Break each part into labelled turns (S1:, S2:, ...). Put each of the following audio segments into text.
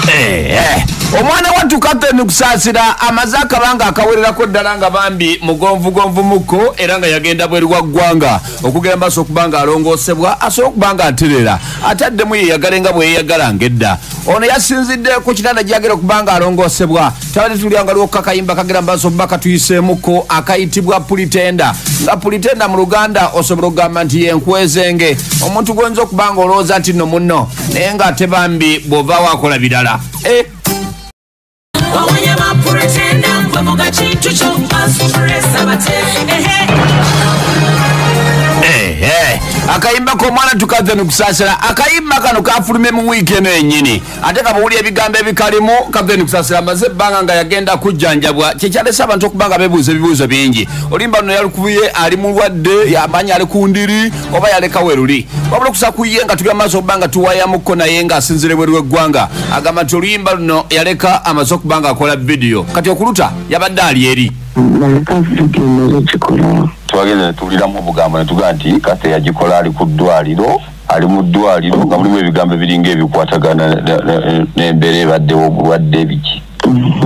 S1: Eh, eh. omwana wattu katoni kusaasira amaze akabanga akawererako ddala nga bambi mugonvugonvu mukko era nga yagenda bweru wa ggwanga okugera maaso okuba nga alongoosebwa asobola okuba nga aterera ate addemu yeyagale nga bweyeyagala ngedda ono yasinzidde ku kitanda gyagera okuba nga alongoosebwa tabadde tulyanga lwokka kayimba kagera maaso okuba katuyiseemukko akayitibwa pulitenda nga pulitenda mu luganda osobola okugamba nti yenkwezenge omuntu gwoyinza okuba nga olowooza nti no munno naye nga ate bambi bwova wakola birala eh. eh, eh. akayimba komwana tukave nikusasira akayimba kano kafulume mu wiiki eno yenyini ate kabuwuli ebigambo ebikalimu kave nikusasira maze ebbanga nga yagenda kujjanjabwa kyekyalesa abantu okuba nga bebuuza ebibuuzo bingi olimba no yalikubuye ali mulwadde yamanyi ali ku ndiri oba yaleka weruli wabula okusa ku ye nga tuli amaaso okuba nga tuwayamukko naye nga asinzire bweru w'eggwanga agamba nti oluyimba luno yaleka amaze okuba nga akola vidiyo kati okuluta yabadde ali eri
S2: twagenda netuwuliramu obugambo netugaa nti kase yagikola ali ku ddwaliro ali mu ddwaliro nga mulimu ebigambo ebiringa ebikwatagana n'embeera ebaddewo obulwadde biki mm-hmm.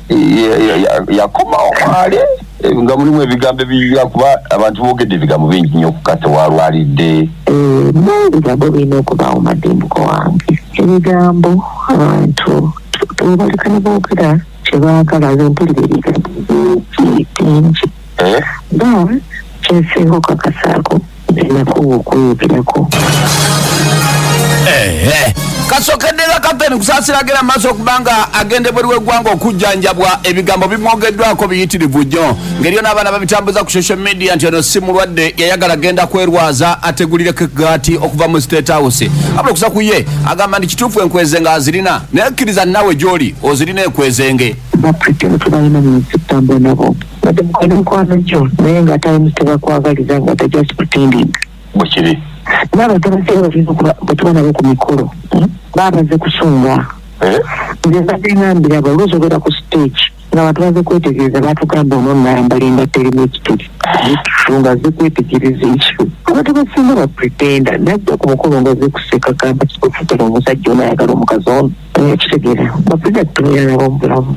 S2: yakomawo kwali eh, nga mulimu ebigambo ebiyira kuba abantu boogedde ebigambo bingi nnyo okukasa walwalidde eh, ebigambo
S3: birina okubaawo madimbuko wange ebigambo abantu tubalekana boogera kye baagala ze mpulira ebigambo bingi bingi eh? mm. kyesinga okakasaako enakuwa okweyogerako eh,
S1: eh. kasokeddera kapteni kusasiragira mu maaso okuba nga agenda ebweru w'eggwanga okujjanjabwa ebigambo bimwogeddwako biyitirivu nnyo ngeriyo n'abaana babitambuza ku social media nti ono si mulwadde yayagala genda kwerwaza ategulireko egaati okuva mu state house abula okusa ku ye agamba nti kituufu enkweze nga azirina naye kkiriza naawe gy'oli ozirina ekwezenge
S3: But mukwana mukwana jo, naye nga times tebakwagaliza nga they're just pretending. Bukiri.
S2: Naba tabasera
S3: bafiza kuba batuba nabo ku mikolo. Hmm? Babaze kusunga. Eh? Nze mbadde ngambira abo oluusi obeera ku stage nga bantu baze kwetegereza batugamba ono nayambala engatto erimu ekituli nga ze kwetegereza ekyo abantu basinga bapretenda najja ku mukolo nga ze kuseka gamba kikufutala omusajja ono ayagala omukazi ono ekitegera okuja kutumira nabo mubulamu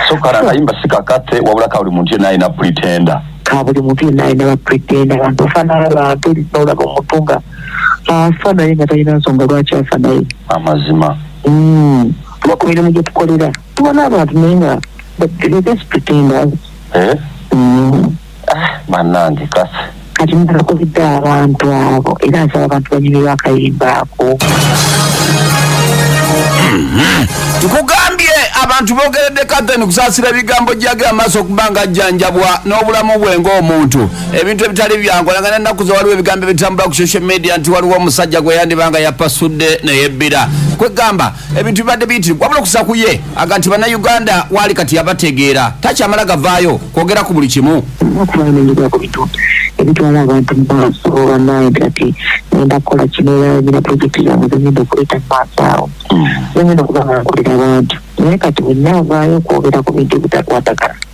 S3: sokara akayimba
S2: sikakate wabula kabuli muntu yena alina pretenda kabuli muntu yena
S3: alina bapretenda abantu ofanana bantu olaba omuntu nga afa naye nga talina nsonga lwaki afa naye amazima
S2: hmm.
S3: kuba ku mirimu gyetukolera tubona abantu naye nga they just pretenders eh? hmm.
S2: banange kasi kati mudala kubidde
S3: abantu abo era nsaba abantu banyumirwa akayimba ako
S1: tukugambye abantu bogeredde kathen kusasira ebigambo jage amaaso okuba nga ajjanjabwa n'obulamu bwe ngaomuntu ebintu ebitali byangu olanga nenaku ze waliwo ebigambo ebitambula ku social media nti waliwo omusajja gwe yandiba nga yapasudde neyebbira kwegamba ebintu bibadde biyitire wabula okusa ku ye aga nti bannayuganda waali kati yabategeera takyamala gavaayo kwogera ku buli kimu
S3: ebitwala abantu mu maaso banaye kati enda kukola kinoyanyina projekiti zange zengenda okuleeta mu maaso awo zengenda okuba nga nkolera abantu naye kati wenna avaayo okwogera ku bintu ebitakwatagana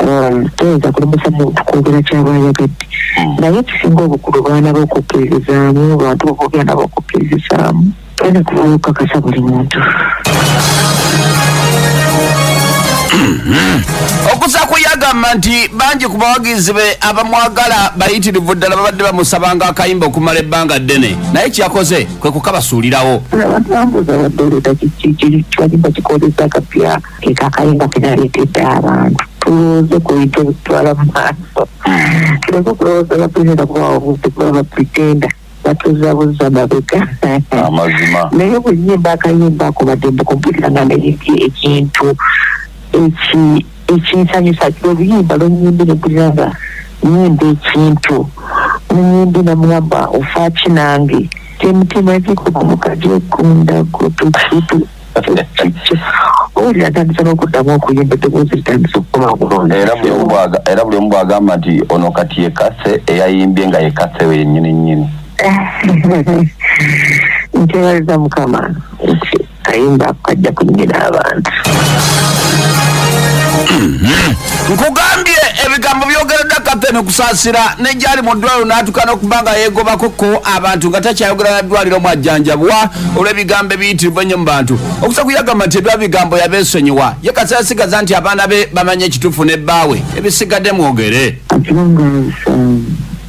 S3: um, toyinza kulemesa muntu kwogera kyaba ayagadde hmm. naye ekisinga obukulu baana bokukkirizaamu bantu boboogera nabo okukkirizisaamu tolina kuvayo okukakasa buli muntu
S1: okusa kuyagamba nti bangi ku bawagizi be abamwagala bayitirivu ddala babadde bamusabanga akayimba okumala ebbanga ddene naye kyeyakoze kwe kukabasuulirawo
S3: keka akayimba kenaleetedde abantu tulowooze ku bintu ebitutwala mu maaso tuleke okulowooza bapulezida kubawa obudde kuba bapretenda batuzabuza mabega amazima
S2: naye obuyimba
S3: akayimba ako badembe kumpulira nga naye ekintu ekinsanyusa oluyimba lwenyimbi nempulira nga nyimba ekintu nenyimbi namugamba ofaaki nange kyemutima ekikuba mukajekunda kutukutu owulira atandise n'okuddamu okuyimba eddoboozi litandise okukola obulungi era buli
S2: omu bwagamba nti ono kati yekase eyayimbye nga yekase we yennyini nnyini nkyebaliza mukama nti kayimba kajja kunyina abantu
S1: nkugambye ebigambo byogeredda kapteni okusaasira negyali mu ddwaliro n'atuuka n'okuba nga yeegobako ko abantu nga takyayogera na ddwaliro mwajjanjabwa olw'ebigambo ebiyitirivu ennyo mu bantu okusa kuyagamba nti ebya bigambo yabeesonyiwa ye kasera sigaza nti abaana be bamanye ekituufu ne bbaawe ebisigadde mwogere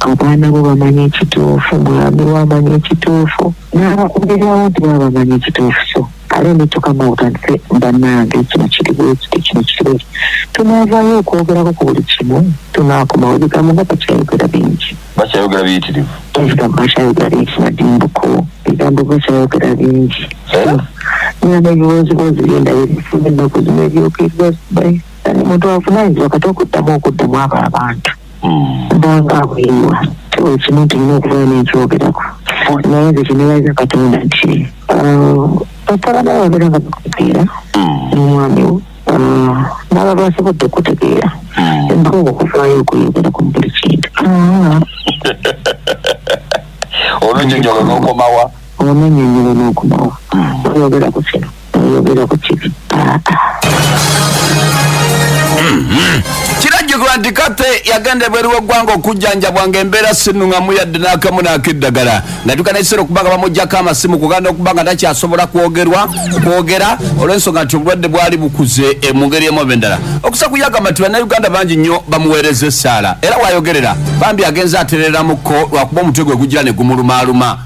S1: abaana
S3: bo bamanye ekituufu mwami wamanye ekituufu n'abakubirirawo nti baba bamanye ekituufu so kale netukamauta nti banange kino kiri bwekiti kino kiri bwekiti tunaavayo okwogerako ku buli kimu tunakomawo ebigambo nga bakyayogera bingi bakyayogera biyitirivu
S2: ebigambo bakyayogera
S3: bingi madimbuko ebigambo bakyayogera bingi eh? nana ebiwozibwozi byendayo ebifuza ennaku zino ebyokeibwa omuntu avunaanyizibwa kati okuddamu okuddamu abo abantu bwava kuyiwa tuba ekimu tulina okubeera n'ekyogerako naye nze kinebaza katonda nti batabana bagera nga bakutegeera n'omwami wo naba basobodde okutegeera embaga okuvaayo okuyogera ku buli kintu
S2: olunyonyola n'okomawa olunyonyola
S3: n'okomawa oyogera ku kino
S1: oyogera ku kibi aa kiragirwa nti kate yagenda ebweru w'eggwanga okujjanjabwa ng'embeera sinuŋamu yadde n'akamu n'akeddagala natuuka n'ekiseera okuba nga bamugyako amasimu kuganda okuba nga takyasobola kwogerwa kwogera olw'ensonga nti obulwadde bwali bukuze e, mu ngeri emu oba endala okusa kuyagamba nti bannayuganda bangi nnyo bamuweereza essaala era wayogerera bambi agenza atereeramuko lwakuba omutwe gwe gugira ne gumulumaaluma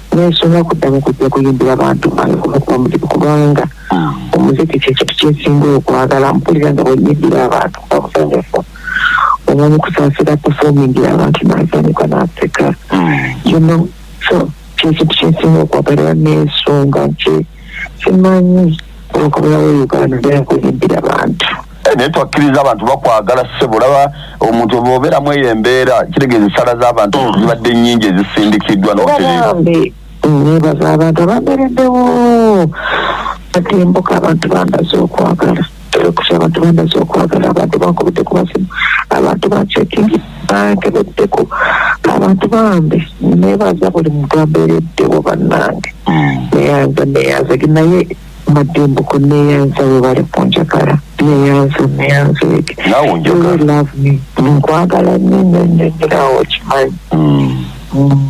S3: nensonga okuddamu kujja kuyimbira bantu bange kumukuba muzibu kubanga ah. omuziki kyekintu kyesinga okwagala mpulira nga bwenyimbira abantu bamusanyufu omanyi kusaasira pefomingira abantu nasanyuka naseka ah. yono so kyekintu kyesinga okwagala era nensonga nti simanyi olukabulawo uganda naye kuyimbira abantu Eh, naye twakkiriza
S2: abantu bakwagala ssebo olaba omuntu oba obeeramu eyo embeera kitegeeza essala z'abantu mm. zibadde nnyingi ezisindikiddwa notereambe
S3: nebaza abantu abambereddewo batembuka abantu bandaza okwagala okusa abantu bandaza okwagala abantu bankubidde ku basimu abantu bancekingi bankebeddeko abantu bambi nebaza buli muntu ambeereddewo bannange mm. neyanza neyanzege naye mbadde mbuko neyanza webale kunjagala neyanza neyanza ege nkwagala nyo nyo nyo nyo nawe okimanyi mm. mm.